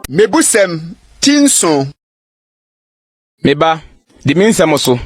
Mebusɛm ti nson. Me ba, di me nsɛm so,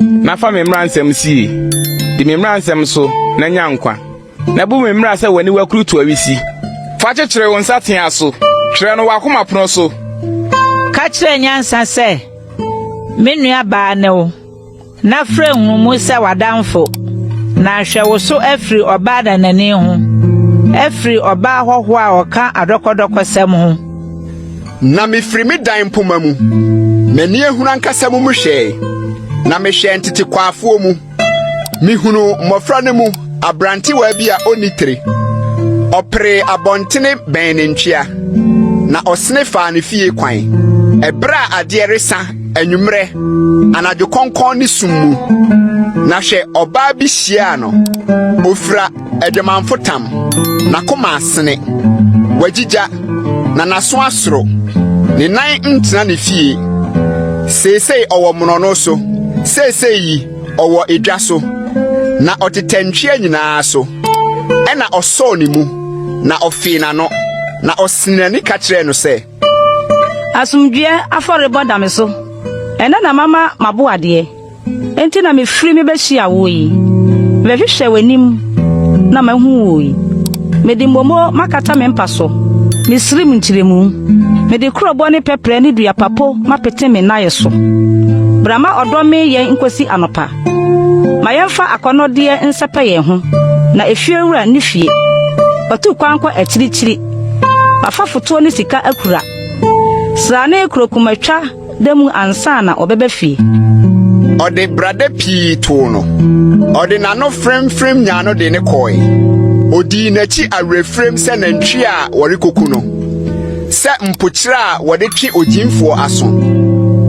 na fa me mmara nsɛm sie. Di me mmara nsɛm so na nya nkwa, na bu me mmara sɛ w'aniwa kurutu awisi. Fa kyekyere wo nsateaa so, twerɛ no w'akoma pono so. Ka kyerɛ nyansa sɛ, Me nuabaa ne wo. Na frɛ nhumu sɛ w'adamfo, na hwɛ wo so afiri ɔbaa nanani ho, afiri ɔbaa hɔhoɔ a ɔka adɔkɔdɔkɔsɛm ho. Na mefiri me dan mpoma mu, m'ani ahunu ankasa mu mehwɛe, na mehwɛɛ ntetekwaafoɔ mu. Mehunuu mmɔfra no mu aberantewaa bi a ɔnni tire. Ɔperee abɔntene bɛn ne ntwea, na ɔsene faa ne fie kwan. Ɛberɛ a adeɛ resa Anwummerɛ, anadwo kɔnkɔn ne sum mu, na hwɛ ɔbaa bi hyiaa no. Ofira adwamanfo tam, n'akoma asene, wagyigya, na n'aso asoro. Ne nan ntena ne fie. Seesei ɔwɔ mmorɔno so, seesei yi ɔwɔ edwa so, na ɔtetɛ ntwea nyinaa so. Ɛna ɔsɔɔ ne mu, na ɔfee n'ano, na ɔsenee n'ani ka kyerɛɛ no sɛ, Asomdwoeɛ afɔrebɔ da me so. Ɛnnɛ na mama m'aboadeɛ. Enti na mefiri me bɛhyia woɔ yi. Mebɛhwehwɛ w'anim na mahu woɔ yi. Mede mmomuo makata me mpa so, me srim nkyerɛmu. Mede kurobo ne pɛprɛ ne dua papo mapete me naeɛ so. Bra ma ɔdɔ mmee yɛn nkɔsi anɔpa. Ma yɛmfa akɔnnɔdeɛ nsɛpɛ yɛn ho, na efiewura nni fie. Watu kwan kɔ akyirikyiri. Wafa fotoɔ ne sika akura. Srane kuro kumatwa da mu ansa na ɔbɛba fie. Ɔde brada pii too no. Ɔde n'ano fremfrem nyaa no de no kɔe. Odii n'akyi awerɛfirem sɛ nantwi a wɔrekoku no, sɛ mpokyerɛ a wɔde twe ogyimfoɔ aso,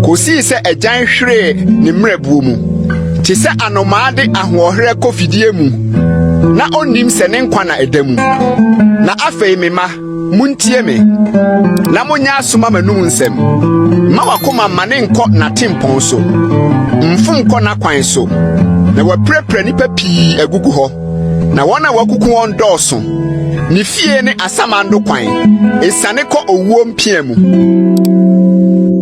kosii sɛ agyan hweree ne mmerɛbuo mu, te sɛ anomaa de ahoɔherɛ kɔ fidie mu. na onnim sɛ ne nkwa na ɛda mu. Na afei me mma, muntie me, na monyɛ aso ma m'anom nsɛm. Mma wakoma mma ne nkɔ n'atempɔn so, mfom nkɔ n'akwan so, na wapirapira nnipa pii agugu hɔ, na wɔn a wakuku wɔn dɔɔso. Ne fie ne asamando kwan, esiane kɔ owuo mpia mu.